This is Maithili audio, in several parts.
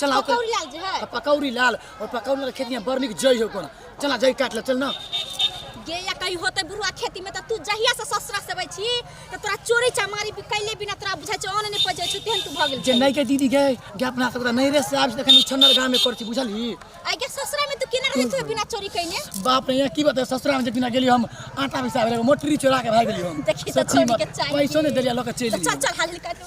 चला ओकर पकौड़ी लाल जे है आ पकौड़ी लाल और पकौड़ी लाल खेत में बड़ निक जई हो कोना चला जई काट ले चल ना गे या कहीं होते बुढ़वा खेती में त तू जहिया से ससुरा से अबै छी त तोरा चोरी चमारी भी कैले बिना तोरा बुझाइ छै ऑन नै पजै छै तेहन तू भऽ गेल जे छै नहीं के दीदी गए गे अपना सबरा नहीं रे से आब देखन छन्नर गांव में करती बुझली आइ के ससुरा में तू केना रहै छै बिना चोरी कैने बाप रे यहाँ की बात है ससुरा में जखन गेली हम आटा पिसा गेली मोटरी चोरा के भाग गेली हम देखी तऽ सच्ची छोड़ी के बात चाही। पैसो नहीं देलिया लोग के चल चल चल हाल निकाल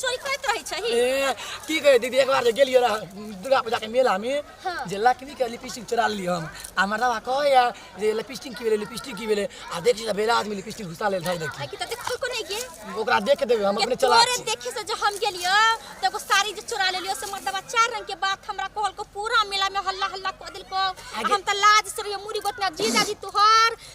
चोरी करैत रहै छही ए, की कहे दीदी एक बार जे गेलियो रह दुर्गा पूजा के मेला में हाँ। जे लक्ष्मी के लिपस्टिक चुरा ली हम आ मर्दवा कहे या जे लिपस्टिक की भेले लिपस्टिक की भेले आ देख से बेला आदमी लिपस्टिक घुसा ले धाई देखी आकि त देखो को नहीं गे ओकरा देख के देबे हम अपने चला तोरे देखे से जो हम गेलियो त एगो साड़ी जे चुरा लेलियो से मर्दवा चार रंग के बात हमरा कहल को पूरा मेला में हल्ला हल्ला क दिल को आगे- हम त लाज से रहियो मुड़ी गोतना जीजा जी तोहर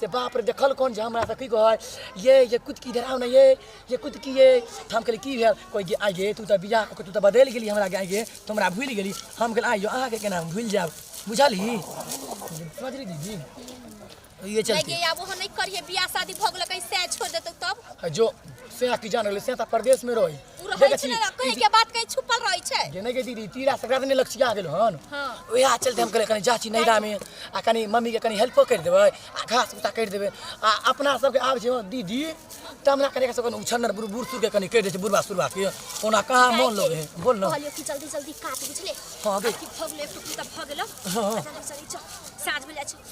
से बाप रे देखल कौन जे हमरा से की कहै ये ये कुछ की धराव नहीं ये ये कुछ की ये तो हम कहली की भेल कोई जे आई गे तू तो बियाह कऽ के तू तो बदल गेली हमरा के आई गे तो हमरा भूल गेली हम कहली आइयो अहाँ के केना हम भूल जाब बुझली समझली दीदी तो ये चलते लगे आबो हम नहीं करिए बियाह शादी भऽ गेलै कैसे छोड़ देतौ तब जो से की जान गेली से तो परदेश में रही तू रहै देखै छी छी, ने ई कहीं जे- के बात कहीं छुपल रहै छै जेने के दीदी तीरा संक्रांति ने लक्ष्य आ गेल हन हाँ। ओएह चलते हम कहले कनी जाची नैरा में आ कनी मम्मी के कनी हेल्प कर देबै आ घास भूसा कर देबै आ अपना सबके आब छै हँ दीदी त हमरा कनी के सब कनी उछन्नर बुढ़ बुढ़ सुर के कनी कर दै छै बुढ़वा सुरवा के ओना कहाँ मन लगे है बोल न कहलियो कि जल्दी जल्दी काट बुझले हाँ, बे। कि भगले टुकड़ी तब भगलो हाँ। जल्दी जल्दी चल साँझ में जाइ छी